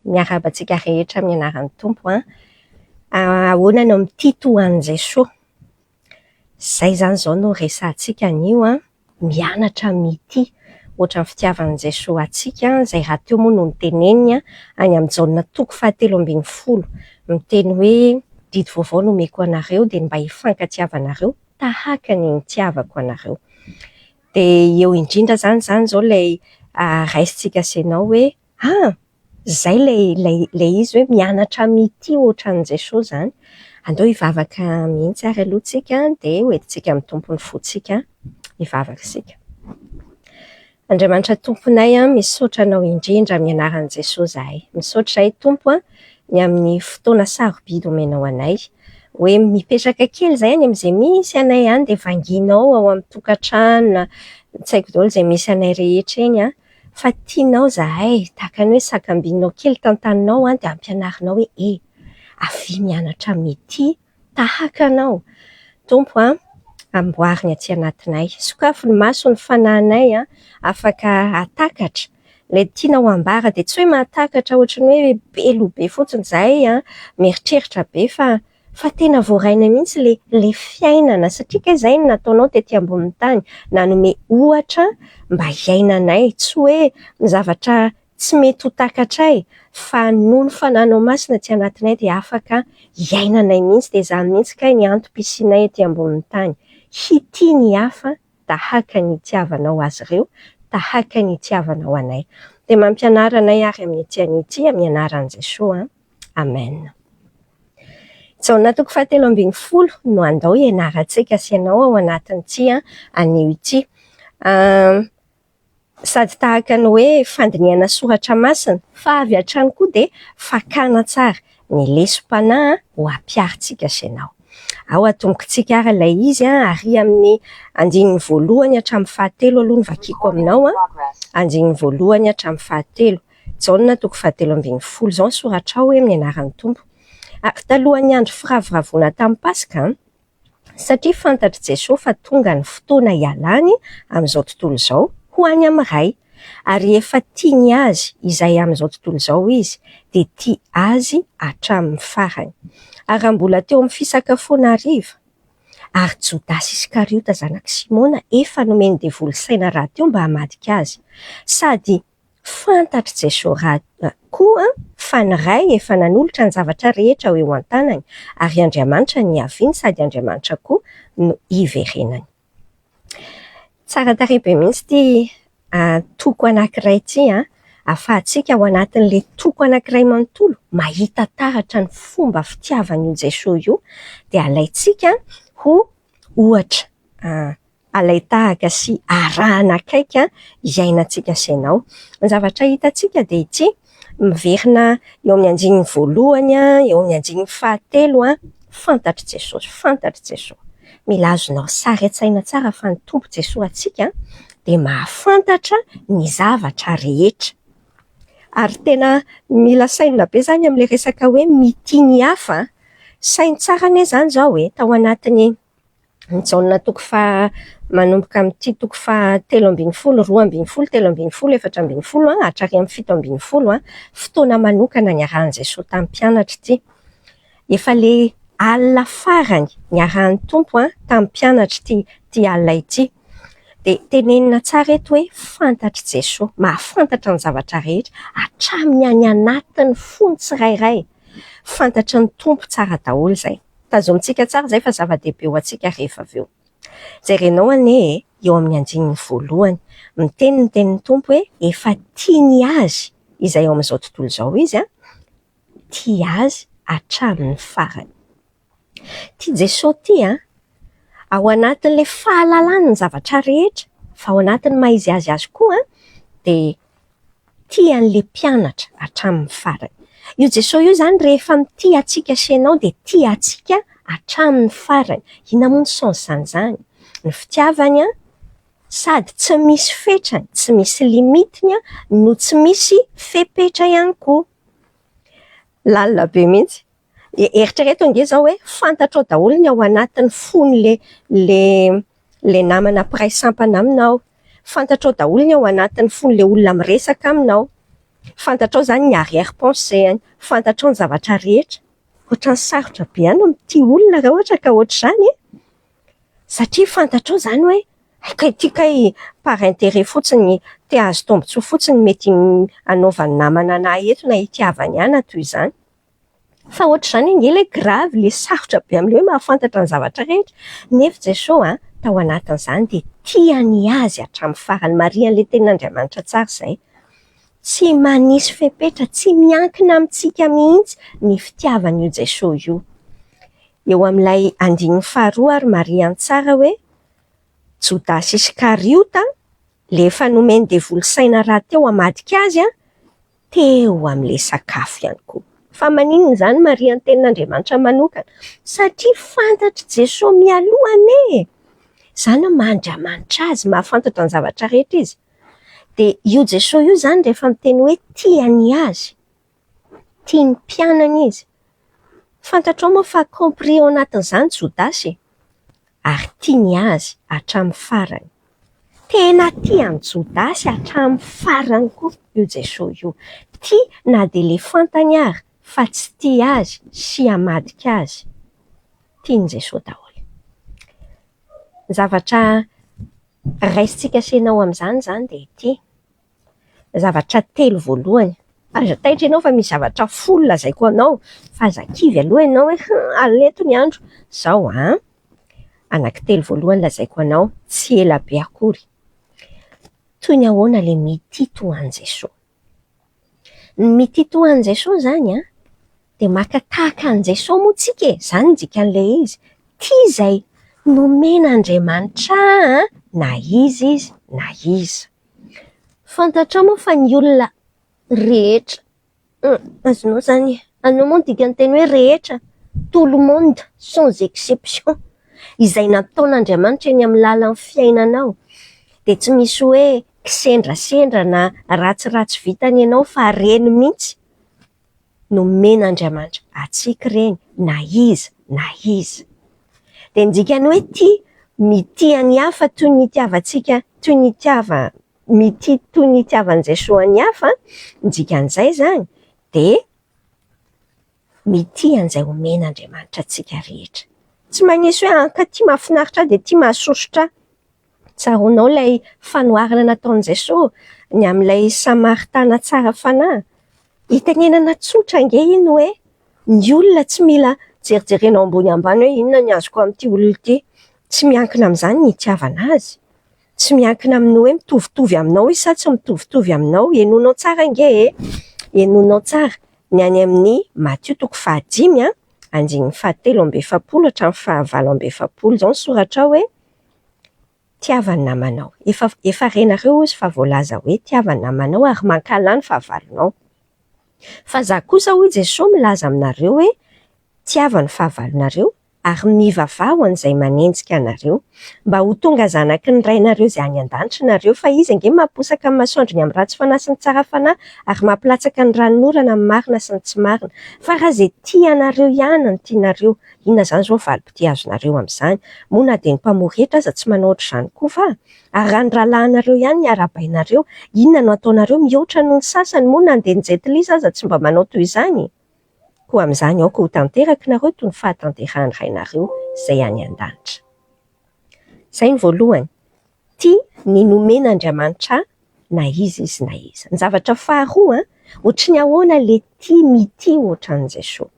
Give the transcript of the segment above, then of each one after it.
Miarahaba antsika rehetra amin'ny anaran'ny Tompo an! Ahoana no mitia toa an'i Jesoa? Izay izany izao no resahantsika anio an! Mianatra mitia ohatran'ny fitiavan'i Jesoa antsika, izay rahateo moa no noteneniny any amin'i Jaona toko fahatelo ambin'ny folo, miteny hoe, Didy vaovao no omeko anareo, dia ny mba hifankatiavanareo tahaka ny nitiavako anareo. Dia eo indrindra izany izany izao ilay raisintsika sy ianao hoe, Ah! Izay ilay ilay ilay izy hoe mianatra mitia ohatran'i Jesoa izany. Andao hivavaka mihitsy ary aloha tsika dia ho entintsika amin'ny Tompo ny fontsika hivavaka isika. Andriamanitra Tomponay an, misaotra Anao indrindra amin'ny anaran'i Jesoa izahay. Misaotra izahay Tompo an, ny amin'ny fotoana sarobidy omenao anay. Hoe mipetraka kely izay any amin'izay misy anay any dia vanginao ao amin'ny tokantrano na tsy haiko daholo izay misy anay rehetra eny an, Fa tianao zahay, tahaka ny hoe sakambinao kely tantaninao an, dia ampianarinao hoe e! avia mianatra mitia tahaka anao Tompo an, amboary ny atsy anatinay, sokafy ny maso ny fanahinay an, afaka hahatakatra ilay tianao hambara, dia tsy hoe mahatakatra ohatran'ny hoe be loha be fotsiny zahay an, mieritreritra be fa Fa tena voaraina mihitsy le le fiainana satria kay zay no nataonao tety ambonin'ny tany, nanome ohatra mba hiainanay, tsy hoe ny zavatra tsy mety ho takatray fa noho ny fananao masina tsy anatinay dia afaka hiainanay mihitsy dia zany mihitsy kay ny antom-pisianay ety ambonin'ny tany, hitia ny hafa tahaka ny itiavanao azy ireo, tahaka ny itiavanao anay. Dia mampianara anay ary amin'ny ity anio ity amin'ny anaran'i Jesoa an. Amen. Jaona toko fahatelo ambin'ny folo no andao hianarantsika sy ianao ao anatin'ity anio ity. Sady tahaka ny hoe fandinihana soratra masina fa avy hatrany koa dia fakana tsara ny lesom-panahy ho ampiharintsika sy ianao. Ao atombokintsika ary ilay izy ary amin'ny andininy voalohany hatramin'ny fahatelo aloha no vakiko aminao. Andininy voalohany hatramin'ny fahatelo. Jaona toko fahatelo ambin'ny folo izao ny soratrao hoe amin'ny anaran'ny Tompo. Ary talohan'ny andro firavoravoana tamin'ny Paska, satria fantatr'i Jesoa fa tonga ny fotoana hialany amin'izao tontolo izao ho any amin'ny Ray, ary efa tia ny azy izay amin'izao tontolo izao izy, dia tia azy hatramin'ny farany. Ary raha mbola teo amin'ny fisakafoana hariva, ary Jodasy Iskariota zanak'i Simona efa nomen'ny devoly saina rahateo mba hamadika azy, sady Fantatr'i Jesoa Ra koa fa ny Ray efa nanolotra ny zavatra rehetra ho eo an-tanany, ary Andriamanitra niaviany sady Andriamanitra koa no hiverenany. Tsara tarehy be mihitsy ity antoko anankiray ity an! Ahafahantsika ao anatin'ilay toko anankiray manontolo mahita taratra ny fomba fitiavan'io Jesoa io, dia alaintsika ho ohatra. alain-tahaka sy arahana akaiky izay iainantsika asainao. Ny zavatra hitantsika dia ity, miverina eo amin'ny andininy voalohany, eo amin'ny andininy fahatelo, Fantatr'i Jesosy, fantatr'i Jesosy. Mila azonao sary an-tsaina tsara fa ny Tompo Jesoa antsika dia mahafantatra ny zavatra rehetra. Ary tena mila sainina be izany amin'ilay resaka hoe mitia ny hafa an! Saino tsara anie izany izao e, tao anatin'ny. Ny Jaona toko faha manomboka amin'ity toko faha telo ambin'ny folo, roa ambin'ny folo, telo ambin'ny folo, efatra ambin'ny folo hatrary amin'ny fito ambin'ny folo, fotoana manokana niarahan'i Jesoa tamin'ny mpianatra ity. Efa ilay alina farany niarahan'ny Tompo tamin'ny mpianatra ity ity alina ity. Dia tenenina tsara eto hoe fantatr'i Jesoa. Mahafantatra ny zavatra rehetra, hatramin'ny any anatin'ny fon'ny tsirairay. Fantatry ny Tompo tsara daholo izay. Tazomintsika tsara izay fa zava-dehibe ho antsika rehefa avy eo. Jerenao anie e, eo amin'ny andininy voalohany, miteny ny tenin'ny Tompo hoe efa tiany azy izay ao amin'izao tontolo izao Izy an, tia azy hatramin'ny farany. Tia Jesoa ity an! Ao anatin'ilay fahalalany ny zavatra rehetra, fa ao anatin'ny maha izy azy azy koa an, dia Tia an'ilay mpianatra hatramin'ny farany. Io Jesoa io izany rehefa mitia antsika sy ianao dia tia antsika hatramin'ny farany. Inona moa ny sens-n'ny izany? Ny fitiavany sady tsy misy fetrany, tsy misy limite-ny no tsy misy fepetra ihany koa. Lalina be mihitsy. Eritrereto ange zao hoe fantatrao daholo ny ao anatin'ny fony le le le namana mpiray sampana aminao, fantatrao daholo ny ao anatin'ny fony le olona miresaka aminao, fantatrao zany ny arrière pensée-any, fantatrao ny zavatra rehetra. Ohatran'ny sarotra be any mitia olona raha ohatra ka ohatr'izany e! satria fantatrao zany hoe hay kay ty kay par intérêt fotsiny, te hahazo tombotsoa fotsiny mety hanaovan'ny namana anah eto na hitiavany ahy na toy izany. Fa ohatr'izany ange ilay gravy, ilay sarotra be amin'ilay hoe mahafantatra ny zavatra rehetra. Nefo Jesosy an, tao anatin'izany dia tia ny azy hatramin'ny farany. Marihan'ilay Tenin'Andriamanitra tsara izay. Tsy manisy fepetra, tsy miankina amintsika mihitsy ny fitiavan'io Jesosy io. Eo amin'ilay andininy faharoa ary marihany tsara hoe, Jodasy Iskariota, ilay efa nomen'ny devoly saina rahateo hamadika azy an, teo amin'ilay sakafo ihany koa. Fa maninona izany Maria ny tenin'Andriamanitra manokana? Satria fantatr'i Jesoa mialoha anie e! Izany hoe maha Andriamanitra Azy, mahafantatra ny zavatra rehetra Izy. Dia io Jesoa io izany rehefa miteny hoe tia ny Azy, tia ny mpianany Izy, fantatrao moa fa compris ao anatin'izany Jodasy e! Ary tia ny Azy hatramin'ny farany. Tena tia an'i Jodasy hatramin'ny farany koa io Jesoa io. Tia na dia ilay fantany ary fa tsy tia azy sy hamadika azy. Tian'i Jesoa daholo. Ny zavatra raisintsika asehina ao amin'izany izany dia ity. zavatra telo voalohany. Aza taitra ianao fa misy zavatra folo lazaiko anao fa aza kivy aloha ianao hoe hum aleto ny andro. Izao an! Anankitelo voalohany lazaiko anao tsy ela be akory. Toy ny ahoana ilay mitia toa an'i Jesoa? Ny mitia toa an'i Jesoa izany an, dia maka tahaka an'i Jesoa moa isika e! Izany no dikan'ilay izy. Tia izay nomen'Andriamanitra ahy na iza izy na iza. Fantatrao moa fa ny olona rehetra, azonao izany e, azonao moa ny dikan-teny hoe rehetra, tout le monde sans exception, izay nataon'Andriamanitra eny amin'ny lalan'ny fiainanao dia tsy misy hoe kisendrasendra na ratsiratsy vitany ianao fa reny mihitsy. nomen'Andriamanitra antsika ireny na iza na iza. Dia ny dikany hoe tia, mitia ny hafa toy ny itiavantsika, toy ny itiava, mitia toy ny itiavan'i Jesoa an'i hafa, ny dikan'izay izany dia mitia an'izay omen'Andriamanitra antsika rehetra. Tsy manisy hoe hankaty mahafinaritra ahy dia tia mahasosotra ahy. Tsaroanao ilay fanoharana nataon'i Jesosy ny amin'ilay Samaritana tsara fanahy? Itenenana tsotra ange iny hoe ny olona tsy mila jerijerena ao ambony ambany hoe inona ny azoko amin'ity olona ity. Tsy miankina amin'izany ny hitiavana azy. Tsy miankina amin'ny hoe mitovitovy aminao izy sa tsy mitovitovy aminao. Henoinao tsara ange e! Henoinao tsara ny any amin'ny Matio toko fahadimy andininy fahatelo amby efapolo hatramin'ny fahavalo amby efapolo izao ny soratrao hoe. Tiava ny namanao. Efa, efa renareo hozy fa voalaza hoe tiava ny namanao ary mankahala ny fahavalonao. Fa za kosa hoy Jesoa milaza aminareo hoe tiava ny fahavalonareo ary mivavaha ho an'izay manenjika anareo. Mba ho tonga zanaky ny Rainareo izay any an-danitra nareo fa Izy ange mamposaka ny masoandro ny amin'ny ratsy fanahy sy ny tsara fanahy ary mampilatsaka ny ranonorana amin'ny marina sy ny tsy marina. Fa raha izay tia anareo ihany no tianareo Inona izany izao valim-pitia azonareo amin'izany? Moa na dia ny mpamory hetra aza tsy manao ohatr'izany koa va? Ary raha ny rahalahinareo ihany ny arahabainareo, inona no ataonareo? Mihoatra noho ny sasany? Moa na dia ny Jet Li aza tsy mba manao toy izany? Koa amin'izany aoka ho tanteraky nareo toy ny fahatanterahan'ny Rainareo izay any an-danitra. Izay ny voalohany. Tia ny nomen' Andriamanitra ahy na iza izy na iza. Ny zavatra faharoa, ohatry ny ahoana le tia mitia ohatran'i Jesoa.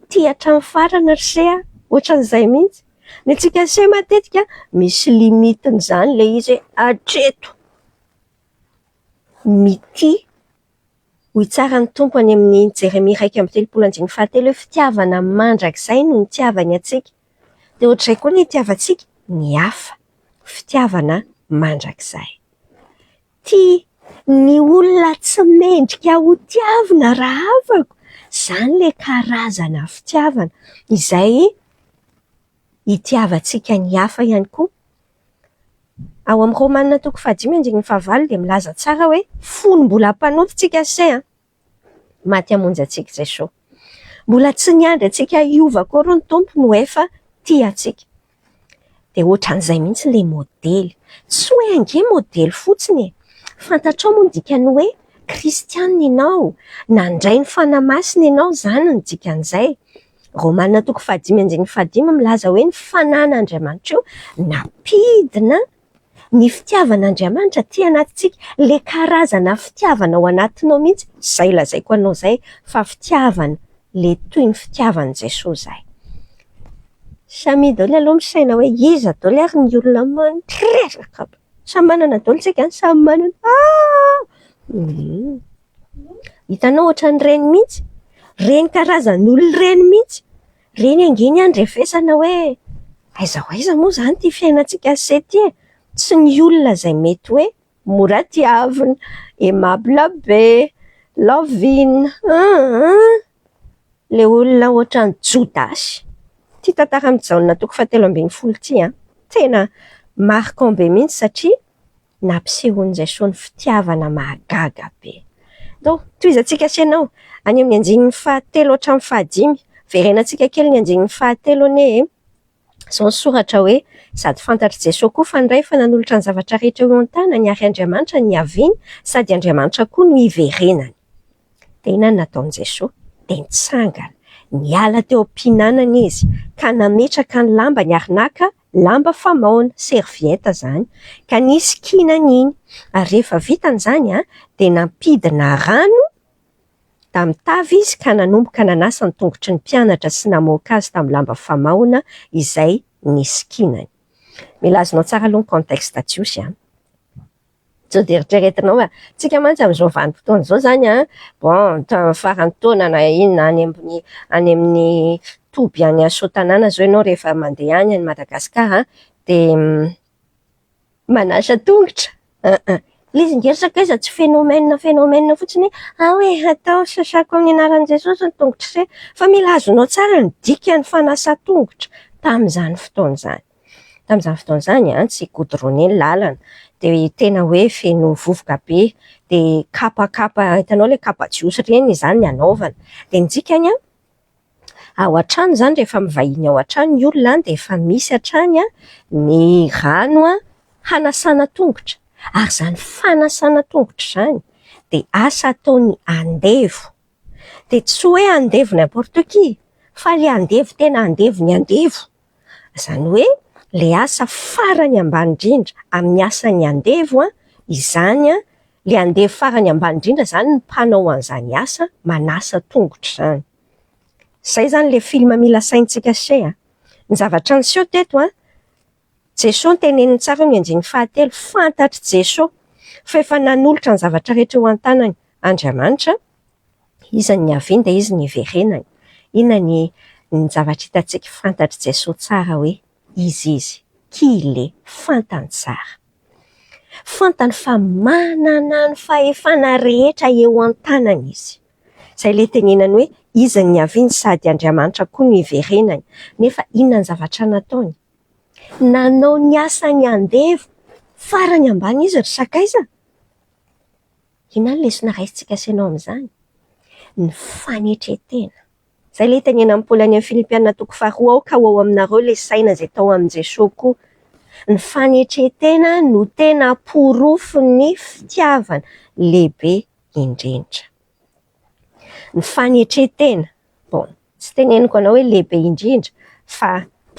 Tia hatramin'ny farany ry se a! Ohatran'izay mihitsy. Ny antsika se matetika misy limiten'izany le izy hoe hatreto. Mitia, hoy tsara ny Tompo any amin'ny Jeremia iraika amby telopolo andininy fahatelo hoe fitiavana mandrakizay no nitiavany antsika. Dia ohatr'izay koa ny itiavantsika ny hafa, fitiavana mandrakizay. Tia ny olona tsy mendrika ho tiavina raha afaka, izany ilay karazana fitiavana izay itiavantsika ny hafa ihany koa. Ao amin'ny Romana toko fahadimy andininy fahavalo dia milaza tsara hoe, fony mbola mpanota isika anie an! maty hamonjy antsika Jesoa. Mbola tsy niandry antsika hiova akory ny Tompo no efa tia antsika. Dia ohatran'izay mihitsy ilay modely. Tsy hoe ange modely fotsiny e! Fantatrao moa ny dikan'ny hoe kristiana ianao, nandray ny Fanahy Masina ianao, izany no dikan'izay. Romana toko fahadimy andininy fahadimy milaza hoe ny Fanahin'Andriamanitra io nampidina Ny fitiavan'Andriamanitra aty anatintsika, ilay karazana fitiavana ao anatinao mihitsy, izay lazaiko anao izay fa fitiavana le toy ny fitiavan'i Jesoa izay. Samia daholo aloha misaina hoe iza daholo ary ny olona mandreraka aby. Samy manana daholo isika an, samy manana ah! Hitanao ohatran'ireny mihitsy, ireny karazan'olona ireny mihitsy Reny ange ny handrefesana hoe aiza ho aiza moa izany ity fiainantsika ase ity e! Tsy ny olona izay mety hoe mora tiavina, aimable be, lovina an an! Le olona ohatran'i Jodasy ity tantaran'i Jaona toko fahatelo ambin'ny folo ity an! Tena marquant be mihitsy satria nampisehoan'izay sao ny fitiavana mahagaga be. Donk, tohizantsika ase anao, any amin'ny andininy fahatelo hatramin'ny fahadimy, verenantsika kely ny andininy fahatelo anie e! Izao ny soratra hoe, Sady fantatr'i Jesoa koa fa ny Ray efa nanolotra ny zavatra rehetra eo an-tanany ary Andriamanitra no niaviany sady Andriamanitra koa no hiverenany. Dia inona no nataon'i Jesoa? Dia nitsangana, niala teo am-pihinanana Izy ka nametraka ny lambany ary naka lamba famaona, serviette, zany ka nisy kinany iny ary rehefa vitany zany a dia nampidina rano tamin'ny tavy izy ka nanomboka nanasa ny tongotry ny mpianatra sy namoaka azy tamin'ny lamba famaona izay nisy kinany. Milaza anao tsara aloha ny contexte Jiosy a! Sao dia eritreretinao hoe tsika mantsy amin'izao vanim-potoana izao izany an, bon, tamin'ny faran'ny taona na inona any amin'ny any amin'ny toby any Soatanàna izao ianao rehefa mandeha any any Madagasikara dia manasa tongotra aa. Ilay izy nge ry sakaiza tsy phénomène phénomène fotsiny hoe ao e atao sasako amin'ny anaran'i Jesosy ny tongotr'ise fa mila azonao tsara ny dikan'ny fanasa tongotra tamin'izany fotoana izany. Tamin'izany fotoana izany dia tsy goudronné ny lalana dia tena hoe feno vovoka be dia kapakapa hitanao ilay kapa jiosy ireny izany no anaovana. Dia ny dikany an, ao an-trano izany rehefa mivahiny ao an-trano ny olona dia efa misy hatrany ny rano hanasana tongotra. Ary izany fanasana tongotra izany dia asa ataon'ny andevo. Dia tsy hoe andevo n'importe qui fa ilay andevo tena andevo ny andevo. Izany hoe ilay asa farany ambany indrindra amin'ny asan'ny andevo izany, ilay andevo farany ambany indrindra izany no mpanao an'izany asa manasa tongotra izany. Izay izany ilay film mila asaintsika se a! Ny zavatra niseho teto a, Jesoa noteneniny tsara ny andiany fahatelo, fantatr'i Jesoa fa efa nanolotra ny zavatra rehetra eo an-tanany Andriamanitra Iza ny niaviany dia iza ny hiverenany? Inona ny ny zavatra hitantsika fantatr'i Jesoa tsara hoe Izy Izy? Qui il est? Fantany tsara. Fantany fa manana ny fahefana rehetra eo an-tanany Izy. Izay ilay tenenany hoe Iza ny niaviany sady Andriamanitra koa no hiverenany? Nefa inona ny zavatra nataony? Nanao ny asany andevo farany ambany Izy ry sakaiza? Inona ny lesona raisintsika asehonao amin'izany? Ny fanetren-tena. Izay ilay itenenan'i Paoly any amin'ny Filipiana toko faharoa Aoka ho ao aminareo ilay saina izay tao amin'i Jesoa koa. Ny fanetren-tena no tena porofon'ny fitiavana lehibe indrindra. Ny fanetren-tena, bon, tsy teneniko anao hoe lehibe indrindra fa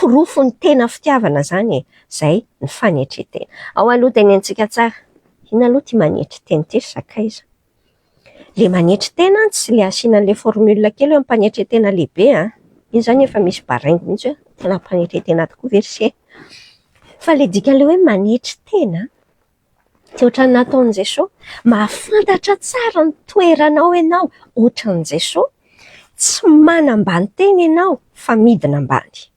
porofon'ny tena fitiavana izany e, izay ny fanetren-tena. Ao aloha tenenitsika tsara, inona aloha ity manetry tena ity ry sakaiza? Ilay manetry tena an, tsy ilay asiana an'ilay formule kely hoe ampanetren-tena lehibe an, iny izany efa misy baraingo mihintsy hoe tena ampanetren-tena tokoa ve ry se? Fa ilay dikan'ilay hoe manetry tena an, Tsy ohatran'ny nataon'i Jesoa. Mahafantatra tsara ny toeranao ianao ohatran'i Jesoa. Tsy manambanteny ianao fa midina ambany.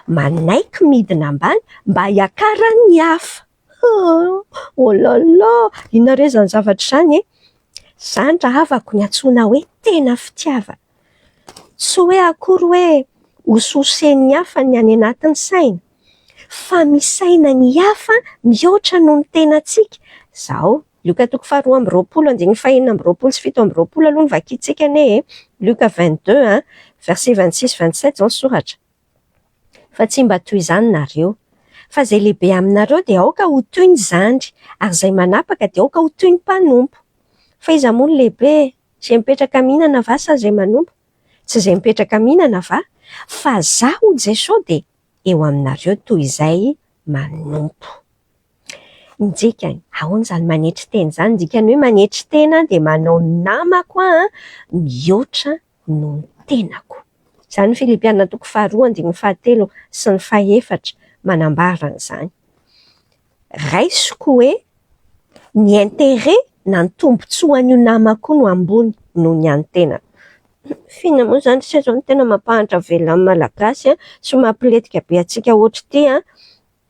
Manaiky midina ambany mba hiakaran'ny hafa. Hoo! Oh là là! Inona re izany zavatra izany e? Izany rahavako no antsoina hoe tena fitiavana. Tsy hoe akory hoe hosososen'ny hafa ny any anatin'ny saina, fa misaina ny hafa mihoatra noho ny tenantsika izao. Lioka toko faharoa amby roapolo andininy fahenina amby roapolo sy fito amby roapolo aloha no vakintsika anie e! Lioka vingt deux an, verset vingt six vingt sept izao ny soratra. Fa tsy mba toy izany nareo. Fa izay lehibe aminareo dia aoka ho toy ny zandry, ary izay manapaka dia aoka ho toy ny mpanompo. Fa iza moa no lehibe e? Izay mipetraka mihinana va sa izay manompo? Tsy izay mipetraka mihinana va? Fa za hoy Jeso de eo aminareo toy izay manompo. Ny dikany, ahoana izany manetry tena izany? Ny dikany hoe manetry tena dia manao ny namako aho mihoatra noho ny tenako. Izany ny Filipiana toko faharoa andininy fahatelo sy ny fahefatra manambara an'izany. raisiko hoe ny interet na ny tombotsoan'io namako io no ambony noho ny an'ny tenako. F'inona moa izany se izao no tena mampahantra velona ny Malagasy sy mampilentika be antsika hoatr'ity an!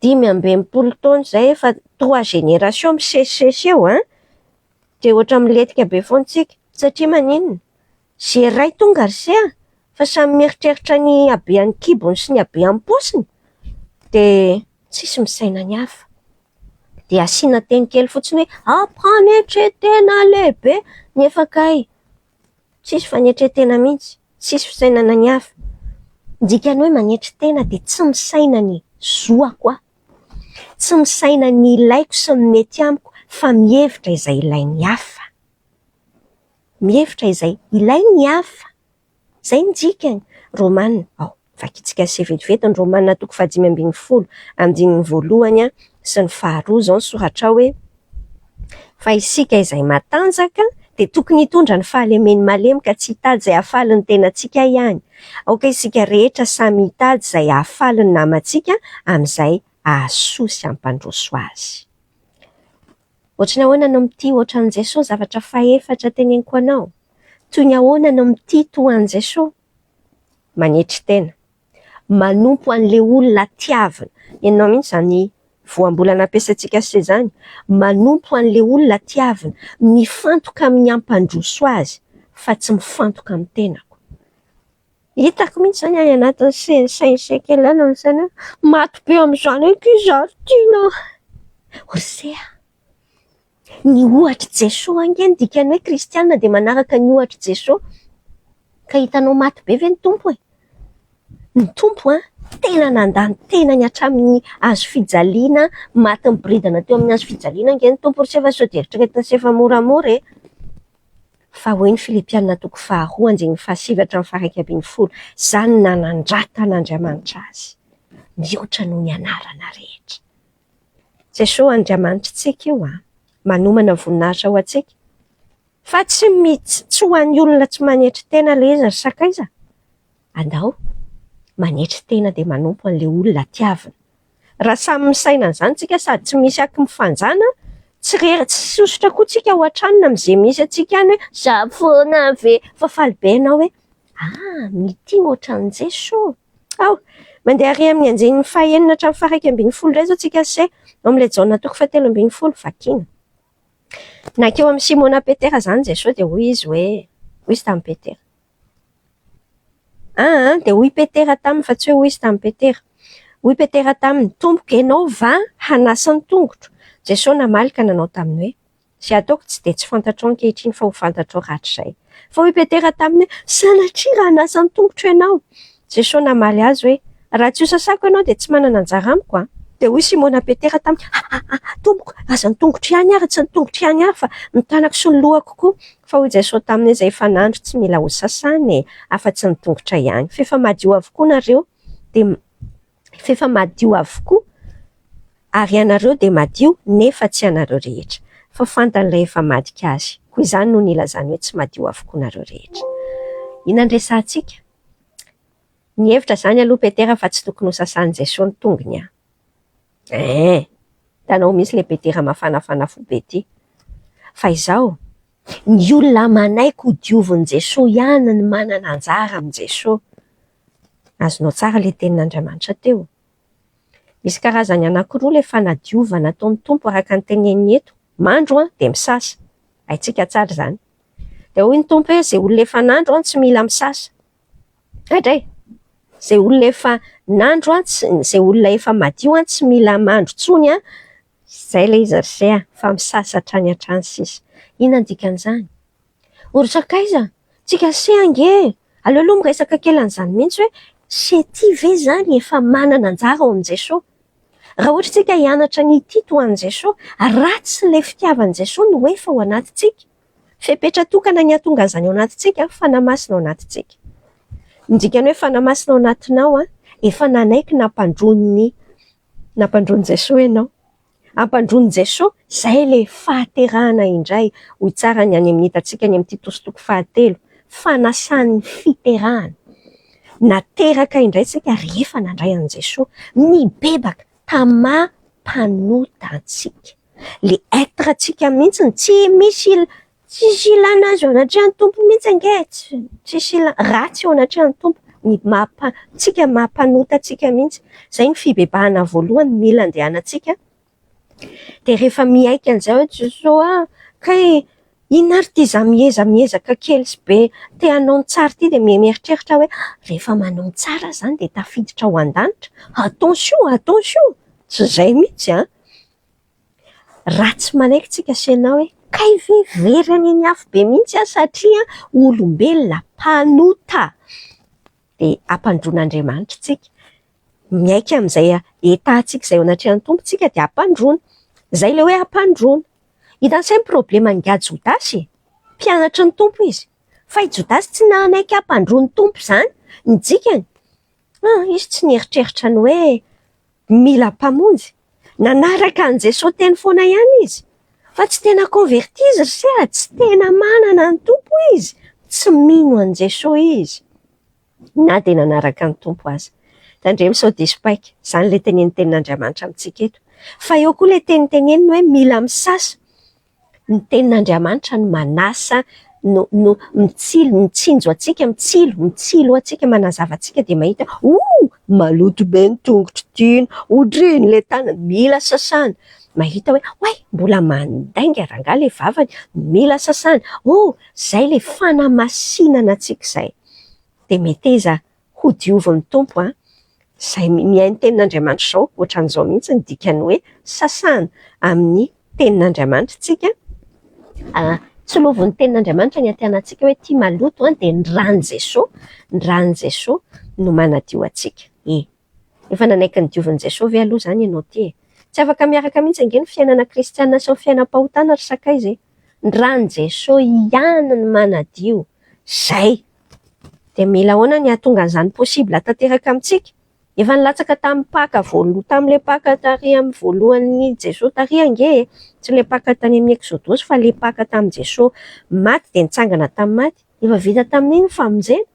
Dimy amby enimpolo taona izay efa trois générations misesisesy eo an! Dia ohatra milentika be foana isika. Satria maninona? Ze iray tonga ry se a! fa samy mieritreritra ny habean'ny kibony sy ny habean'ny paosiny dia tsisy misaina ny hafa. Dia asiana teny kely fotsiny hoe a mpanetretena lehibe nefa kay tsisy fanetretena mihitsy, tsisy fisainana ny hafa. Ny dikan'ny hoe manetry tena dia tsy misaina ny zoako aho, tsy misaina ny ilaiko sy ny mety amiko fa mihevitra izay ilain'ny hafa. mihevitra izay ilainy ny hafa. Izay ny dikany. Romana, ao, vakintsika azy vetivety ny Romana toko fahadimy ambin'ny folo, andininy voalohany sy ny faharoa. Izao ny soratra ao hoe, Fa isika izay matanjaka dia tokony hitondra ny fahalemeny malemy ka tsy hitady izay hahafaly ny tenantsika ihany. Aoka isika rehetra samy hitady izay hahafaly ny namantsika, amin'izay hahasoa sy hampandroso azy. Ohatry ny ahoana no mitia hoatra an'i Jesoa zavatra fahefatra teneniko anao? Toy ny ahoana no mitia toa an'i Jesoa? Manetry tena. Manompo an'ilay olona tiavina. Henonao mihitsy izany voambolana ampiasaintsika sy izany. Manompo an'ilay olona tiavina. Mifantoka amin'ny hampandroso azy fa tsy mifantoka amin'ny tenako. Hitako mihitsy izany any anatin'ny CSCE kely any ny saina hoe maty be amin'izany ankizy ary tiana Ose a! Ny ohatr'i Jesoa ange ny dikan'ny hoe kristiana dia manaraka ny ohatr'i Jesoa. Ka hitanao maty be ve ny Tompo e? Ny Tompo an, tena nandà ny tenany hatramin'ny hazo fijaliana, maty niboridana teo amin'ny hazo fijaliana ange ny Tompo ry se fa sao dia eritreretina se fa moramora e! Fa hoy ny Filipiana toko faharoa andininy fahasivy hatramin'ny faha-iraika ambin'ny folo, Izaho no nanandràta an'Andriamanitra azy, mihoatra noho ny anarana rehetra. Jesoa Andriamanitritsika io an, manomana voninahitra ho antsika. Fa tsy mits, tsy ho an'ny olona tsy manetry tena ilay izy ry sakaiza. Andao manetry tena dia manompo an'ilay olona tiavina. Raha samy misaina an'izany tsika sady tsy misy aky mifanjana, tsy rery, tsy hisosotra koa tsika ao an-tranony amin'izay misy antsika any hoe, za foana ve? Fa faly be ianao hoe, ah! mitia ohatran'izay so! Ao! Mandeha ary amin'ny andinin'ny fahenina hatramin'ny faharaika ambin'ny folo indray izao tsika se, ao amin'ilay Jaona toko fahatelo ambin'ny folo, vakiana. Nankeo amin'i Simona Petera izany Jesoa dia hoy Izy hoe, hoy Izy tamin'i Petera. Aa dia hoy Petera taminy, fa tsy hoe hoy izy tamin'i Petera. Hoy Petera taminy, Tompoko, ianao va hanasa ny tongotro? Jesoa namaly ka nanao taminy hoe, Izay ataoko tsy dia tsy fantatrao ankehitriny fa ho fantatrao rahatrizay. Fa hoy Petera taminy hoe, Sanatria raha hanasa ny tongotro ianao! Jesosy namaly azy hoe, Raha tsy hosasako ianao dia tsy manana anjara amiko an! Dia hoy Simona Petera taminy, Hahaha, Tompoko, aza ny tongotro ihany ary tsy ny tongotro ihany ary fa ny tanako sy ny lohako koa! Fa hoy Jesosy taminy, Izay efa nandro tsy mila hosasana e, afa-tsy ny tongotra ihany. Fa efa madio avokoa nareo, dia. f'efa madio avokoa ary ianareo dia madio nefa tsy ianareo rehetra fa fantan'ilay efa madika azy, koa izany no nilazany hoe tsy madio avokoa nareo rehetra. Inona no resahantsika? Nihevitra izany aloha Petera fa tsy tokony ho sasan'i Jesoa ny tongony an! Eeh! Hitanao mihitsy le Petera mafanafana fo be ty! Fa izao, ny olona manaiky ho diovin'i Jesoa ihany no manana anjara amin'i Jesoa. Azonao tsara ilay tenin'Andriamanitra teo? Misy karazany anankiroa ilay fanadiovana ataon'ny Tompo araka ny teneniny eto, mandro dia misasa. Haintsika tsara izany. Dia hoy ny Tompo hoe, izay olona efa nandro tsy mila misasa. Gaga e! Izay olona efa nandro, izay olona efa madio tsy mila mandro intsony an! Izay ilay izy ry se a! Fa misasa hatrany hatrany sisa. Inona ny dikan'izany? Ory sakaiza? Tsy kase ange e! Aleo aloha miresaka kely an'izany mihitsy hoe setia ve izany efa manana anjara ao amin'i Jesoa? Raha ohatra isika hianatra ny hitia toa an'i Jesoa, ratsy ilay fitiavan'i Jesoa no efa ao anatintsika. Fepetra tokana ny hahatonga an'izany ao anatintsika, Fanahy Masina ao anatintsika. Ny dikan'ny hoe Fanahy Masina ao anatinao, efa nanaiky nampandroin'ny nampandroin'i Jesoa ianao. Ampandroin'i Jesoa, izay ilay fahaterahana indray, hoy tsara ny any amin'ny hitantsika any amin'ny Titosy toko fahatelo, fanasan'ny fiterahana. Nateraka indray isika rehefa nandray an'i Jesoa, nibebaka tamà mpanota antsika. Ilay être-ntsika mihitsy, tsy misy Tsisy ilana azy eo anatrehan'ny Tompo mihitsy ange e, tsisy ilana ratsy eo anatrehan'ny Tompo, ny maha antsika maha mpanota antsika mihitsy, izay ny fibebahana voalohany mila andehanantsika, dia rehefa miaiky an'izay hoe Jesoa ah, kay inona ary ity za mieza miezaka kely sy be te hanao ny tsara ity dia mieritreritra hoe rehefa manao ny tsara zany dia tafiditra ao an-danitra, attention, attention, tsy izay mihitsy an! Raha tsy manaiky tsika sy ianao hoe kay ve very any amin'ny afo be mihitsy aho satria olombelona mpanota dia hampandroana Andriamanitra tsika. Miaiky amin'izay etatsika izay eo anatrehan'ny Tompo tsika dia hampandroana. Izay ilay hoe hampandroana. Hitan'i Ntsay ny problème angaha Jodasy e! Mpianatry ny Tompo izy fa i Jodasy tsy nanaiky hampandroa ny Tompo izany ny dikany. An, izy tsy nieritreritra ny hoe mila Mpamonjy. Nanaraka an'i Jesoa teny foana ihany izy. Fa tsy tena convertis ry se a! Tsy tena manana ny Tompo izy. Tsy mino an'i Jesoa izy. Na dia nanaraka ny Tompo aza. Tandremo sao diso paika. Izany ilay tenenin'ny Tenin'Andriamanitra amintsika eto. Fa eo koa ilay teny teneniny hoe mila misasa. Ny tenin'Andriamanitra no manasa, no no mitsilo, mitsinjo antsika, mitsilo, mitsilo antsika, manazava antsika dia mahita hoe oh! maloto be ny tongotro tiana, otrino ilay tanana, mila sasana, mahita hoe oay! mbola mandainga rangaha ilay vavany, mila sasana, oh! izay ilay fanamasinana antsika izay, dia meteza Ho diovin'ny Tompo an! Izay mihaino ny tenin'Andriamanitra izao, ohatran'izao mihitsy ny dikan'ny hoe sasana amin'ny tenin'Andriamanitra isika, tsilovin'ny tenin'Andriamanitra ny antenatsika hoe ity maloto an, dia ny ran'i Jesoa, ny ran'i Jesoa no manadio antsika e! Efa nanaiky ny diovin'i Jesoa ve aloha izany ianao ity e! Tsy afaka miaraka mihitsy ange ny fiainana kristiana sy ny fiainam-pahotana ry sakaiza e! Ny ran'i Jesoa ihany no manadio! Izay! Dia mila ahoana ny hahatonga an'izany possible tanteraka amintsika? Efa nilatsaka tamin'ny Paka voaloha, tamin'ilay Paka tarihan'ny voalohan'ny Jesoa tariha ange e! Tsy ilay Paka tany amin'ny Eksodosy fa ilay Paka tamin'i Jesoa maty dia nitsangana tamin'ny maty. Efa vita tamin'iny ny famonjena.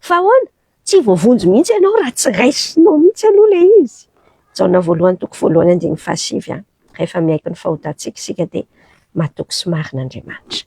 Fa ahoana? Tsy voavonjy mihitsy ianao raha tsy raisinao mihitsy aloha ilay izy. Jaona voalohany toko voalohany andininy fahasivy an! Rehefa miaiky ny fahotantsika isika dia matoky sy marina Andriamanitra.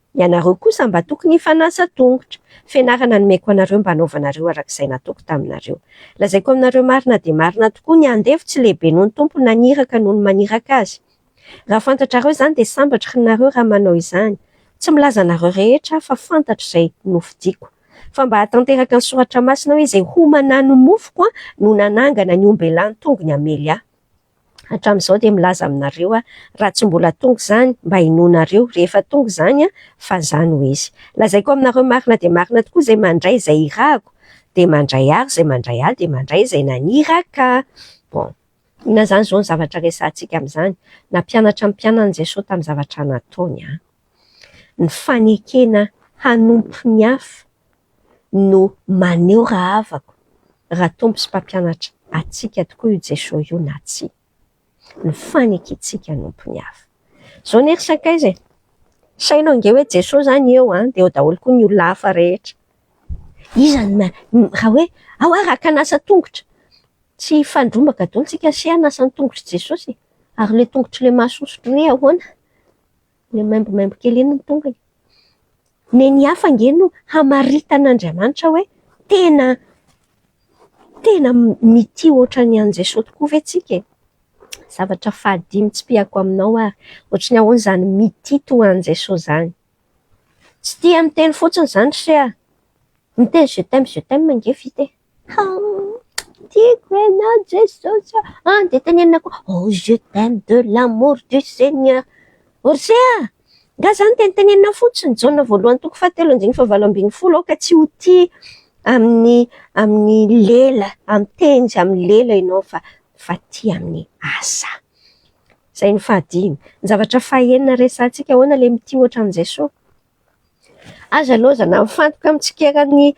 Ianareo kosa mba tokony hifanasa tongotra. Fianarana nomeko anareo mba hanaovanareo araka izay nataoko taminareo. Lazaiko aminareo marina dia marina tokoa, ny andevo tsy lehibe noho ny Tompo na ny iraka noho ny maniraka azy. Raha fantatrareo izany dia sambatra hnareo raha manao izany. Tsy milaza anareo rehetra aho fa fantatra izay nofidiako. Fa mba hahatanteraka ny soratra masina hoe izay homana ny mofoko no nanangana ny ombelany tongony hamely ahy. hatramin'izao dia milaza aminareo aho, raha tsy mbola tonga izany, mba hinoanareo, rehefa tonga izany, fa izaho no izy. Lazaiko aminareo marina dia marina tokoa, izay mandray izay irahako, dia mandray ahy, ary izay mandray ahy, dia mandray izay naniraka ahy. Bon. Inona izany izao ny zavatra resahantsika amin'izany? Nampianatra ny mpianany Jesoa tamin'ny zavatra nataony an! Ny fanekena hanompo ny hafa no maneho raha havako, raha Tompo sy Mpampianatra antsika tokoa io Jesoa io na tsia. Ny fanekentsika hanompo ny hafa. Izao anie ry sakaiza e! Saino ange hoe Jesoa izany eo an, dia eo daholo koa ny olona hafa rehetra. Iza no raha hoe ao aho raka an'asa an-tongotra, tsy hifandrombaka daholo tsika sy hanasa ny tongotr'i Jesosy e! Ary ilay tongotr'ilay mahasosotra re ahoana? Ilay maimbomaimbo kely iny ny tongony. Ny ny hafa ange no hamaritan'Andriamanitra hoe tena tena mitia ohatran'ny an'i Jesoa tokoa ve tsika e? Zavatra fahadimy tsipihako aminao ary, ohatry ny ahoana izany mitia toa an'i Jesoa izany? Tsy tia miteny fotsiny izany ry se a! Miteny je t'aime je t'aime ange vita e! Tiako ianao Jesosy a! Dia tenenina koa, oh je t'aime de l'amour du Seigneur. Orsay a! Nga izany dia notenenina fotsiny Jaona voalohany toko fahatelo andininy fahavalo ambin'ny folo aoka tsy ho tia amin'ny amin'ny lela, amin'ny teny sy amin'ny lela ianao fa fa tia amin'ny asa. Izay ny fahadimy. Ny zavatra fahenina resahantsika, ahoana ilay mitia hoatran'i Jesoa? Aza laozana mifantoka amin'ny tsikera ny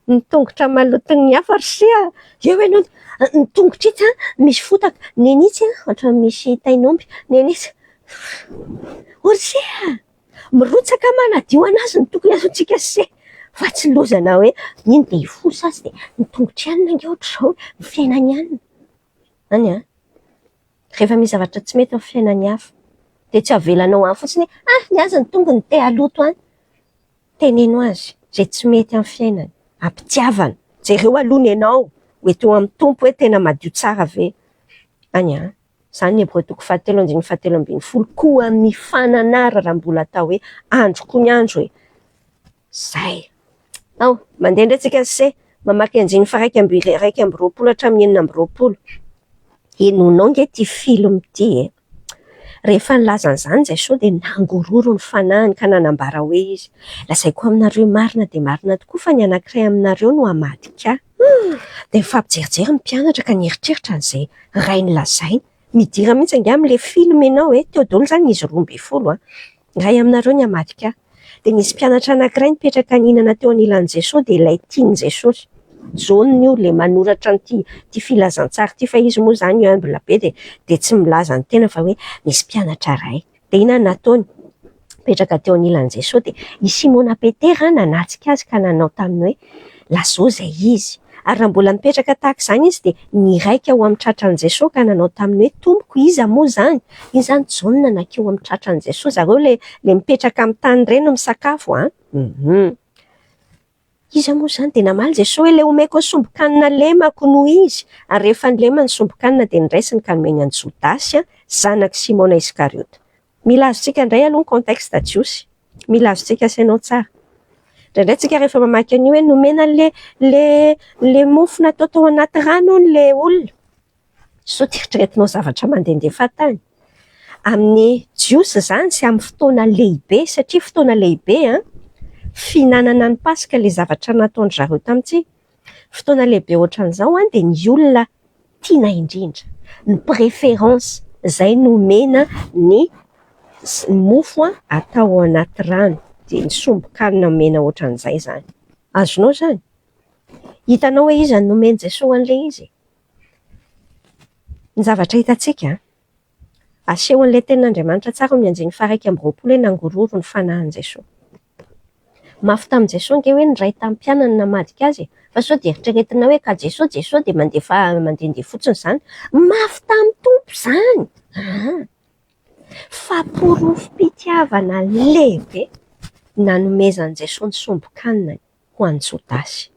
ny tongotra maloton'ny hafa ry se a! Eo ianao dia, ny tongotra itsy an, misy fotaka, neny itsy an, ohatran'ny misy tain'omby, neny itsy, o ry se a! Mirotsaka manadio an'azy ny tokony hataontsika ry se fa tsy laozana hoe iny dia hifoha sasy dia ny tongotr'i anona ange ohatr'izao, ny fiainan'i anona. Any an! Rehefa misy zavatra tsy mety amin'ny fiainan'ny hafa, dia tsy avelanao any fotsiny hoe, ah! ny azy ny tongony te haloto any. Teneno azy izay tsy mety amin'ny fiainany, am-pitiavana. Jereo aloha ny anao ho eto amin'ny Tompo hoe tena madio tsara ve any an! Izany ny Hebreo toko fahatelo andininy fahatelo ambin'ny folo, koa mifananara raha mbola atao hoe andro koa ny andro e! Zay. Ao, mandeha indray tsika sy mamaky andininy faha iraika amby iraika amby roapolo hatramin'ny enina amby roapolo. Henoinao nge ity film ity e! Rehefa nilaza an'izany izay soa dia nangororo ny fanahiny ka nanambara hoe izy, Lazaiko aminareo marina dia marina tokoa fa ny anankiray aminareo no hamadika ahy. Dia nifampijerijery ny mpianatra ka nieritreritra an'izay rainy lazainy. Midira mihitsy angaha amin'ilay film ianao e! Teo daholo izany izy roa ambin'ny folo an! Iray aminareo ny hamadika ahy. Dia nisy mpianatra anankiray nipetraka nihinana teo anilan'i Jesoa dia ilay tian'i Jesosy. Jaona io ilay manoratra an'ity ity filazantsara ity fa izy moa izany humble be dia dia tsy milaza ny tena fa hoe misy mpianatra iray. Dia inona no nataony? Nipetraka teo anilan'i Jesoa dia i Simona Petera nanatrika azy ka nanao taminy hoe Lazao izay izy. Ary raha mbola mipetraka tahaka izany izy dia niraika ho amin'ny tratran'i Jesoa ka nanao taminy hoe, Tompoko, iza moa izany? Izany Jaona nankeo amin'ny tratran'i Jesoa. Zareo ilay ilay mipetraka amin'ny tany ireny misakafo an! Hum. Iza moa izany? Dia namaly Jesoa hoe, Ilay omeko ny sombin-kanina lemako no izy. Ary rehefa nilema ny sombin-kanina dia niraisiny ka nomeny an'i Jodasy, zanak'i Simona Iskariota. Mila azontsika indray aloha ny contexte jiosy. Mila azontsika asainao tsara. Indraindray tsika rehefa mamaky an'io hoe nomena an'le le le mofo natao tao anaty rano hono le olona. Sao tsy eritreretinao zavatra mandehandeha tany. Amin'ny jiosy izany sy amin'ny fotoana lehibe satria fotoana lehibe an, fihinanana ny paska le zavatra nataon-dry zareo tamintsika. Fotoana lehibe ohatran'izao dia ny olona tiana indrindra, ny préférence izay no omena ny mofo atao ao anaty rano, dia ny sombin-kanina omena ohatran'izay izany. Azonao izany? Hitanao hoe iza no nomen'i Jesoa an'ilay izy? Ny zavatra hitantsika an! Asehon'ilay Tenin'Andriamanitra tsara ao amin'ny andiany faha-iraika amby roapolo hoe nangororo ny fanahin'i Jesoa. Mafy tamin'i Jesoa ange hoe ny Ray tamin'ny mpianany namadika azy e! Fa sao dia eritreretinao hoe ka Jesoa, Jesoa dia mandefa mandehandeha fotsiny izany? Mafy tamin'ny Tompo izany! Aa! Fa porofom-pitiavana lehibe nanomezan'i Jesoa ny sombin-kanina ho an'i Jodasy.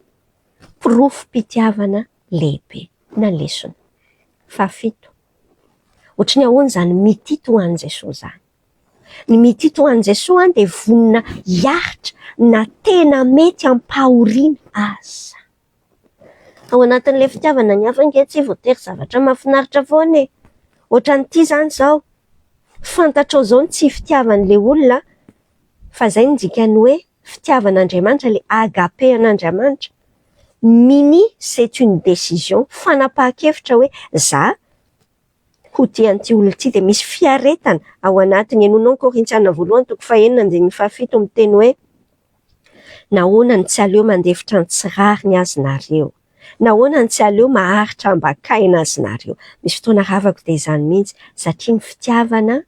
Porofom-pitiavana lehibe. Na lesona. Fahafito. Ohatry ny ahoana izany mitia toa an'i Jesoa izany? Ny mitia toa an'i Jesoa dia vonona hiaritra na tena mety hampahoriana aza. Ao anatin'ilay fitiavana ny hafa ange tsy voatery zavatra mahafinaritra foana e! Ohatran'ity izany izao, fantatrao izao ny tsy fitiavan'ilay olona fa izay no dikan'ny hoe fitiavan'Andriamanitra, ilay agape an'Andriamanitra, mini c'est une décision, fanapahan-kevitra hoe za ho tia an'ity olona ity, dia misy fiaretana ao anatiny, henoinao ny Korintiana voalohany toko fahenina andininy fahafito miteny hoe, nahoana no tsy aleo mandefitra ny tsy rariny azy nareo? nahoana no tsy aleo maharitra ambakaina azy nareo? misy fotoana ravako dia izany mihintsy, satria ny fitiavana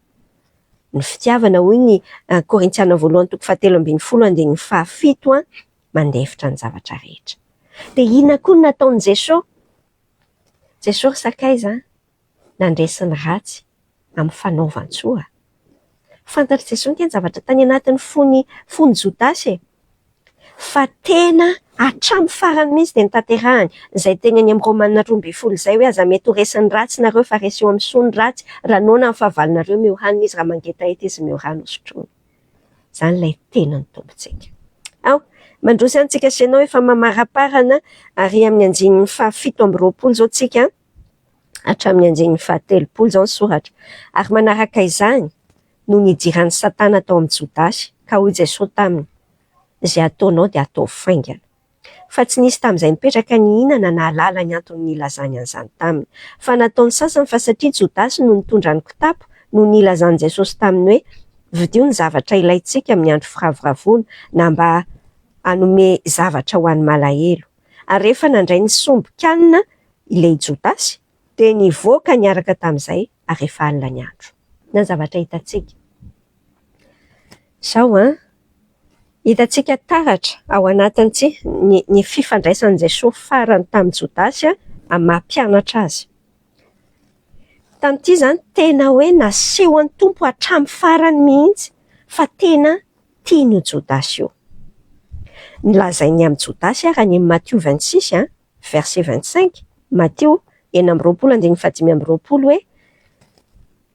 ny fitiavana hoy ny Korintiana voalohany toko fahatelo ambin'ny folo andininy fahafito an, mandefitra ny zavatra rehetra. Dia inona koa no nataon'i Jesoa? Jesoa ry sakaiza an, nandresy ny ratsy amin'ny fanaovan-tsoa. Fantatr'i Jesoa ange ny zavatra tany anatin'ny fon'i, fon'i Jodasy e. fa tena hatramin'ny farany mihitsy dia notanterahany izay teny eny amin'ny Romanina roa ambin'ny folo izay hoe, Aza mety ho resy ny ratsy nareo fa reseo amin'ny soa ny ratsy, raha noana ny fahavalonareo meo hanina izy, raha mangetaheta izy meo rano hosotroiny. Izany ilay tenan'ny Tompontsika. Ao, mandroso ihany tsika sy ianao efa mamaraparana ary amin'ny andininy faha fito amby roapolo izao tsika hatramin'ny andininy faha telopolo izao ny soratra. Ary manaraka izany, no nidiran'i Satana tao amin'i Jodasy, ka hoy Jesosy taminy, Izay ataonao dia ataovy faingana. Fa tsy nisy tamin'izay nipetraka nihinana nahalala ny antony nilazany an'izany taminy. Fa nataon'ny sasany fa satria Jodasy no nitondra ny kitapo no nilazan'i Jesosy taminy hoe, Vidio ny zavatra ilaintsika amin'ny andro firavoravoana, na mba hanome zavatra ho an'ny malahelo. Ary rehefa nandray ny sombin-kanina ilay Jodasy, Dia nivoaka niaraka tamin'izay ary efa alina ny andro. Inona ny zavatra hitantsika? Izao an, hitantsika taratra ao anatin'ity ny ny fifandraisan'i Jesoa farany tamin'i Jodasy amin'ny maha mpianatra Azy. Tamin'ity izany tena hoe nasehon'ny Tompo hatramin'ny farany mihitsy fa tena tiany io Jodasy io. Ny lazainy amin'i Jodasy ary any amin'ny Matio vingt six an, verset vingt cinq, Matio enina amby roapolo andininy fahadimy amby roapolo hoe,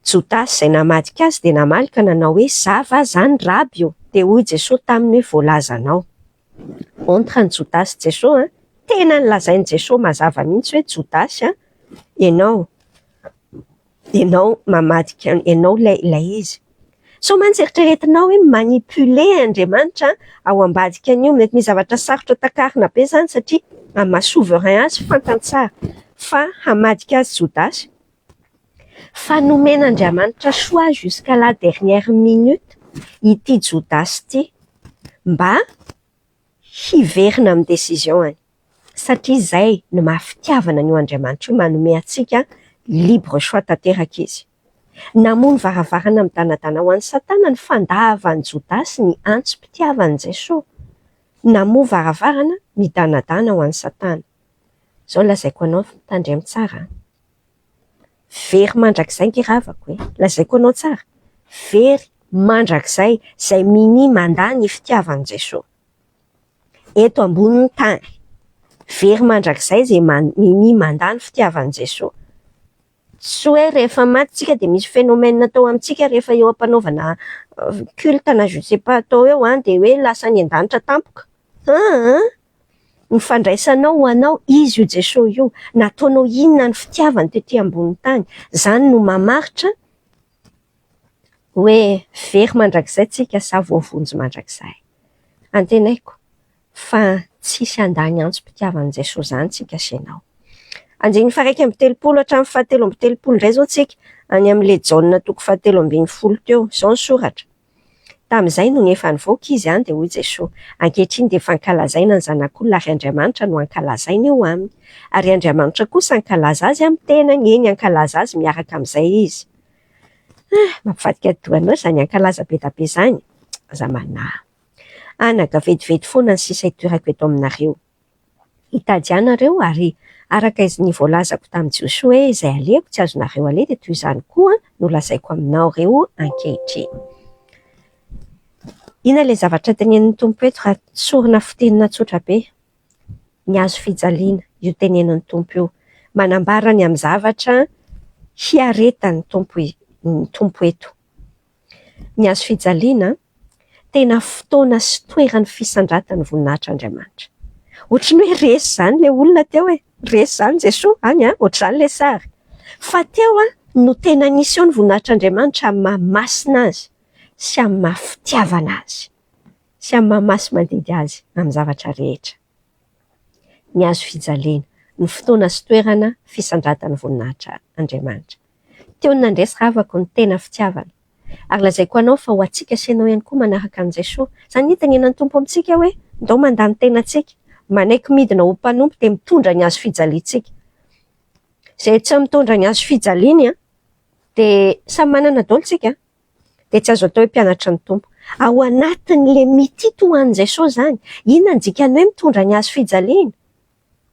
Jodasy izay namadika Azy dia namaly ka nanao hoe, Zava izany Raby ô! Dia hoy Jesoa taminy hoe, Voalazanao. Entre an'i Jodasy sy Jesoa an! Tena nolazain'i Jesoa mazava mihitsy hoe, Jodasy an! Ianao. Ianao mamadika ianao ilay ilay izy. Sao mantsy eritreretinao hoe mi-manipuler Andriamanitra ao ambadikan'io. Mety misy zavatra sarotra takarina be izany satria amin'ny maha souverain azy fantany tsara fa hamadika azy Jodasy. Fa nomen'Andriamanitra choix jusqu'à la dernière minute ity Jodasy ity mba hiverina amin'ny décision-any satria izay no maha fitiavana an'io Andriamanitra io, manome antsika libre choix tanteraka izy. Namono varavarana midanadana ho an'i Satana ny fandavan'i Jodasy ny antso mpitiavana an'i Jesoa. Namoha varavarana midanadana ho an'i Satana. Izao lazaiko anao fa tandremo tsara an! Very mandrakizay nge ravako e! Lazaiko anao tsara, very mandrakizay izay minia mandà ny fitiavan'i Jesoa eto ambonin'ny tany. Very mandrakizay izay minia mandà ny fitiavan'i Jesoa. Tsy hoe rehefa maty tsika dia misy phénomène atao amintsika rehefa eo am-panaovana culte na je ne sais pas atao eo an, dia hoe lasa any an-danitra tampoka. Aa! Ny fandraisanao ho anao Izy io Jesosy io, nataonao inona ny fitiavany tety ambony tany, zany no mamaritra hoe very mandrakizay tsika sa voavonjy mandrakizay. Antenaiko fa tsisy handany antsom-pitiavan'i Jesosy zany tsika sy enao. Andininy faharaika amby telopolo hatramin'ny fahatelo amby telopolo ndray zao tsika, any amin'le Jaona toko fahatelo ambin'ny folo teo, zao ny soratra. Tamin'izay nony efa nivoaka izy an, dia hoy Jesoa, ankehitriny dia efa ankalazaina ny Zanak'olona ary Andriamanitra no ankalazaina eo aminy. Ary Andriamanitra kosa ankalaza azy amin'ny tenany, eny ankalaza azy miaraka amin'izay izy. Ah, mampivadika doha anao izany ankalaza bedabe izany. Aza manahy. Anà ka vetivety foana ny sisa itoerako eto aminareo. Hitady ahy nareo, ary araka iz ny voalazako tamin'i Jiosy hoe, izay alehako tsy azonareo aleha dia toy izany koa no lazaiko aminao reo ankehitriny. Inona ilay zavatra tenenin'ny Tompo eto raha sorona fitenina tsotra be? Ny hazo fijaliana, io tenenin'ny Tompo io. Manambara ny amin'ny zavatra hiaretan'ny Tompo ny Tompo eto. Ny hazo fijaliana tena fotoana sy toeran'ny fisandratan'ny voninahitr' Andriamanitra. Ohatry ny hoe resy izany ilay olona teo e! Resy izany Jesoa any a! Ohatry izany ilay sary. Fa teo no tena nisy eo ny voninahitr' Andriamanitra amin'ny maha masina Azy sy amin'ny maha fitiavana Azy. Sy amin'ny maha masy mandidy Azy amin'ny zavatra rehetra. ny hazo fijaliana, ny fotoana sy toerana fisandratan'ny voninahitra Andriamanitra. Teo ny nandresy ravako ny tena fitiavana. Ary lazaiko anao fa ho antsika sy ianao ihany koa manaraka an'i Jesoa. Izany ny itanenan'ny Tompo amintsika hoe, ndao mandà ny tenantsika, manaiky midina ho mpanompo dia mitondra ny hazo fijaliantsika. Izay tsy mitondra ny hazo fijaliany dia samy manana daholo isika an! dia tsy azo atao hoe mpianatry ny Tompo. Ao anatin'ilay mitity ho an'i Jesosy izany, inona no dikan'ny hoe mitondra ny hazo fijaliana?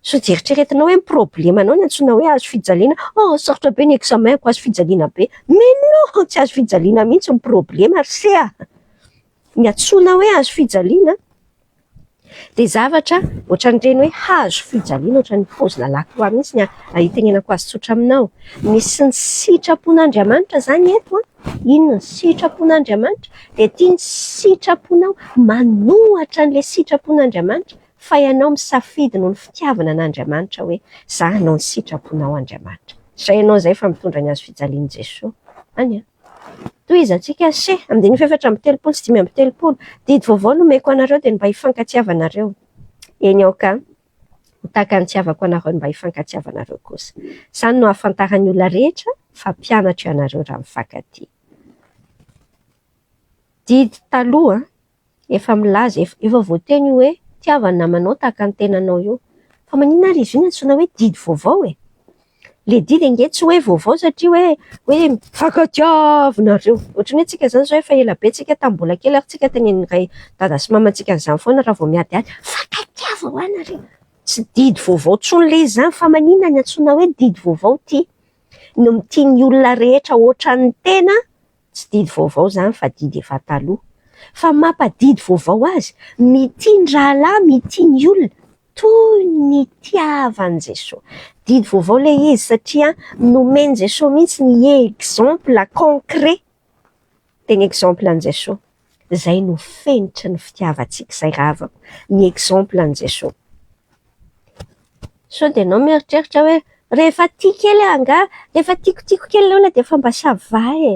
Sao dia eritreretinao hoe ny problemanao no antsoina hoe hazo fijaliana, oh sarotra be ny examen-ko, hazo fijaliana be. Mais non! Tsy hazo fijaliana mihitsy ny problema ry se a! Ny antsoina hoe hazo fijaliana, Dia zavatra ohatran'ireny hoe hazo fijaliana ohatran'ny paozina lakroa mihitsy ny itenenako azy tsotra aminao. Misy ny sitrapon'Andriamanitra izany eto an. Inona ny sitrapon'Andriamanitra? Dia ity ny sitraponao, manohatra an'ilay sitrapon'Andriamanitra fa ianao misafidy noho ny fitiavana an'Andriamanitra hoe za hanao ny sitraponao Andriamanitra. Izay ianao izay fa mitondra ny hazo fijalian'i Jesoa. Any an. Tohizantsika She. Andininy fahefatra amby telopolo sy dimy amby telopolo, Didy vaovao nomeko anareo dia ny mba hifankatiavanareo. Eny aoka ho tahaka ny itiavako anareo ny mba hifankatiavanareo kosa. Izany no hahafantaran'ny olona rehetra fa mpianatro ianareo raha mifankatia. Didy taloha. Efa milaza ef efa voateny io hoe tiava ny namanao tahaka ny tenanao io. Fa maninona ary izy io no antsoina hoe didy vaovao e? Le didy ange tsy hoe vaovao satria hoe hoe mifankatia avy nareo. Ohatran'ny hoe tsika zany zao efa ela be tsika tamin'ny mbola kely ary tsika tenenin'ny ray dada sy mamantsika an'izany foana raha vao miadihady hoe mifankatia va hoa nareo? Tsy didy vaovao tsony le izy zany fa maninona ny antsoina hoe didy vaovao ty? Ny mitia ny olona rehetra otran'ny tena Tsy didy vaovao izany fa didy efa taloha. Fa ny mapa didy vaovao azy, mitia ny rahalahy, mitia ny olona toy ny itiavan'i Jesoa. Didy vaovao ilay izy satria nomen'i Jesoa mihitsy ny exemple concret, tena exemple an'i Jesoa. izay no fenitry ny fitiavantsika izay ravako ny exemple an'i Jesoa. Sao dia ianao mieritreritra hoe rehefa tia kely aho angaha, rehefa tiakotiko kely ny olona dia efa mba ça va e!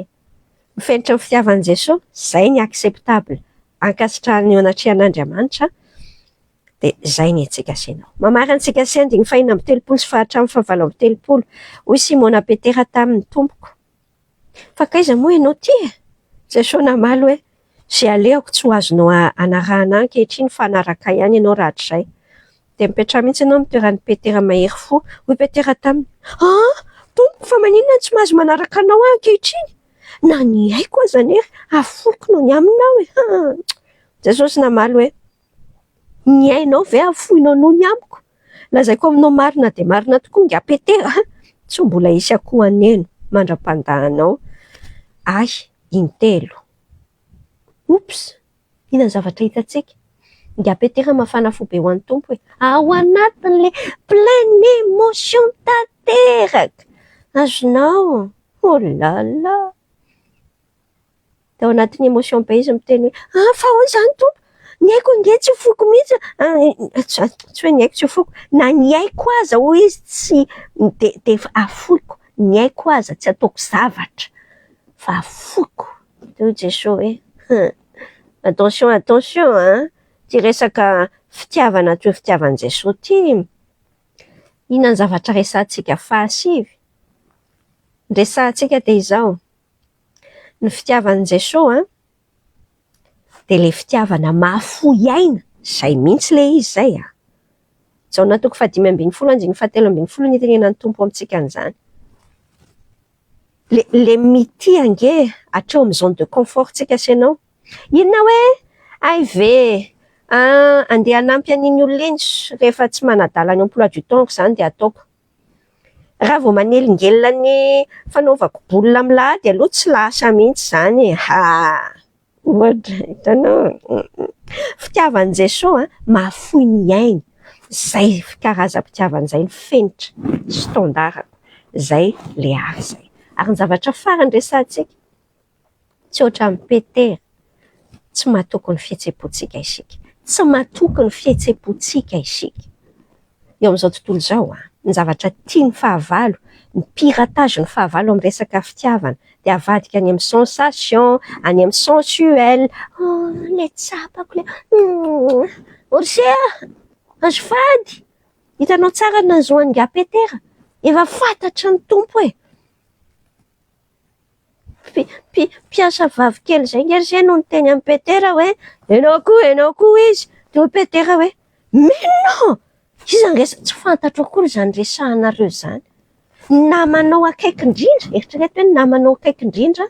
Ny fenitry ny fitiavan'i Jesoa, izay ny acceptable ankasitrahan'ny eo anatrehan'Andriamanitra dia izay ny antsika sy ianao. Mamarana antsika sy andiny fahina amby telopolo sy fahatramin'ny fahavalo amby telopolo, hoy Simona Petera taminy, Tompoko, Fankaiza moa ianao ity e? Jeso namaly hoe, Izay alehako tsy ho azonao anarahana ahy ankehitriny fa hanaraka ahy ihany ianao rahatrizay. Dia mipetraha mihitsy ianao amin'ny toeran'i Petera mahery fo. Hoy Petera taminy, Aa! Tompo, fa maninona no tsy mahazo manaraka anao aho ankehitriny? Na ny aiko aza anery aforiko noho ny aminy aho e! Jesosy namaly hoe, Ny ainao ve hafoinao noho ny amiko? Lazaiko aminao marina dia marina tokoa ingahy Petera, tsy ho mbola hisy akoho haneno mandra-pandahanao ahy intelo. Oops! Inona ny zavatra hitantsika? Ingahy Petera mafana fo be ho an'ny Tompo hoe, Ao anatin'ilay pleine émotion tanteraka! Azonao? Olala! Tao anatin'ny emotion be izy miteny hoe, ah fa ahoana izany Tompo, ny aiko ange tsy foko mihitsy, tsy hoe ny aiko tsy foko, na ny aiko aza hoy izy tsy, dia dia efa afoiko, ny aiko aza tsy ataoko zavatra fa afoiko. Dia hoy Jesoa hoe, hum, attention attention an, ity resaka fitiavana toy ny fitiavan'i Jesoa ity, inona ny zavatra resahantsika fahasivy? Ny resahantsika dia izao, Ny fitiavan'i Jesoa an, dia ilay fitiavana mahafoy aina, izay mihitsy ilay izy izay an! Jaona toko fahadimy ambin'ny folo andininy fahatelo ambin'ny folo no itenenan'ny Tompo amintsika an'izany. Ilay ilay mitia ange hatreo amin'ny zone de confort ntsika sy ianao, inona hoe hay ve an, andeha hanampy an'iny olona iny, rehefa tsy manadala ny emploi du temps-ko izany dia ataoko. Raha vao manelingelina ny fanaovako boule milahady aloha tsy lasa mihitsy izany e! haa! Ohatra, hitanao e! Fitiavan'i Jesoa an, mahafoy ny ainy, izay karazam-pitiavana izay no fenitra sy tandarako, izay ilay ahy izay. Ary ny zavatra farany resahantsika. Tsy ohatran'i Petera. Tsy matoky ny fihetseham-pontsika isika. Tsy matoky ny fihetseham-pontsika isika. Eo amin'izao tontolo izao, ny zavatra tia ny fahavalo, ny piratage ny fahavalo amin'ny resaka fitiavana, dia avadika any amin'ny sensation, any amin'ny sensuel, oh, ilay tsapako ilay, humm, Orse a! Azafady! Hitanao tsara ny nahazoan'ingahy Petera? Efa fantatry ny Tompo e! Mpiasa vavy kely izay ange re no niteny an'i Petera hoe ianao koa, ianao koa hoy izy. Dia hoy Petera hoe Mino aho! Iza ange izany tsy fantatro akory izany resahanareo izany. Ny namanao akaiky indrindra, eritrereto hoe ny namanao akaiky indrindra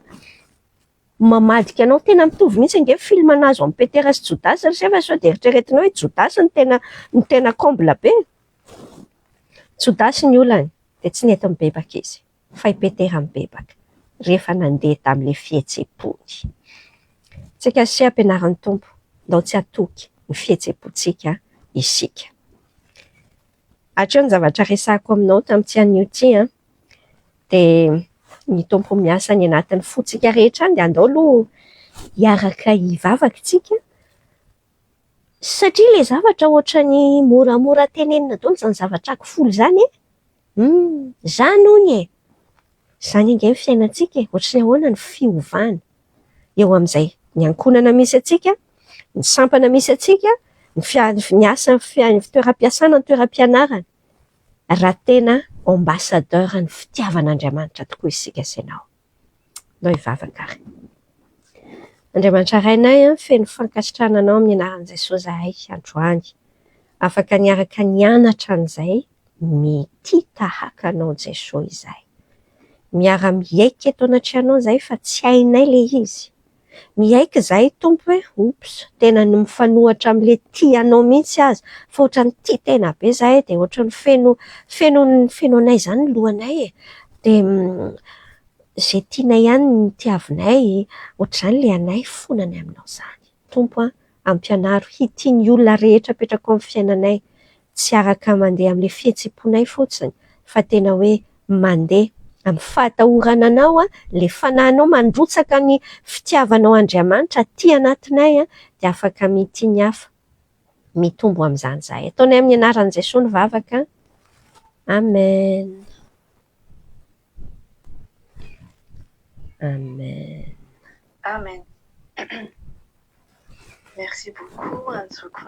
mamadika anao. Tena mitovy mihitsy ange ny film nahazo an'i Petera sy Jodasy ry se fa sao dia eritreretinao hoe Jodasy no tena no tena comble be. Jodasy ny olany dia tsy nety nibebaka izy. fa i Petera mibebaka rehefa nandeha tamin'ilay fihetseham-pony. Tsy kasiha ampianarin'ny Tompo, ndao tsy hatoky ny fihetseham-pontsika isika. Hatreo ny zavatra resahiko aminao tamin'ity anio ity an! Dia ny Tompo miasa any anatin'ny fontsika rehetra any dia andao aloha hiaraka hivavaka isika, satria ilay zavatra ohatran'ny moramora tenenina daholo izany zavatra aky folo izany e! Humm! Izany hono e! Izany ange ny fiainantsika e! Ohatry ny ahoana ny fiovana eo amin'izay ny ankohonana misy antsika, ny sampana misy antsika, ny fiaha- ny asa ny fiaha- ny toeram-piasana, ny toeram-pianarana, raha tena ambassadeur ny fitiavan'Andriamanitra tokoa isika sy ianao. Andao hivavaka ary. Andriamanitra Rainay, feno fankasitrahana Anao amin'ny anaran'i Jesoa izahay androany. Afaka niaraka nianatra an'izay mitia tahaka Anao Jesoa izahay. Miara-miaiky eto anatrehanao izahay fa tsy hainay ilay izy. Miaiky izahay Tompo hoe oups tena ny mifanohatra amin'ilay tia anao mihitsy aza fa ohatran'ny tia tena be izahay dia ohatran'ny feno feno feno anay izany ny lohanay e! dia izay tianay ihany no tiavinay, ohatr'izany ilay anay fona ny aminao izany Tompo a! Ampianaro hitia ny olona rehetra apetraka ao amin'ny fiainanay, tsy araka mandeha amin'ilay fihetseponay fotsiny fa tena hoe mandeha amin'ny fahatahorana Anao, ilay fanahinao mandrotsaka ny fitiavanao Andriamanitra aty anatinay dia afaka mitia ny hafa, mitombo amin'izany izahay. Ataonay amin'ny anaran'i Jesoa ny vavaka, Amen. Amen. Amen. Merci beaucoup antsoiko.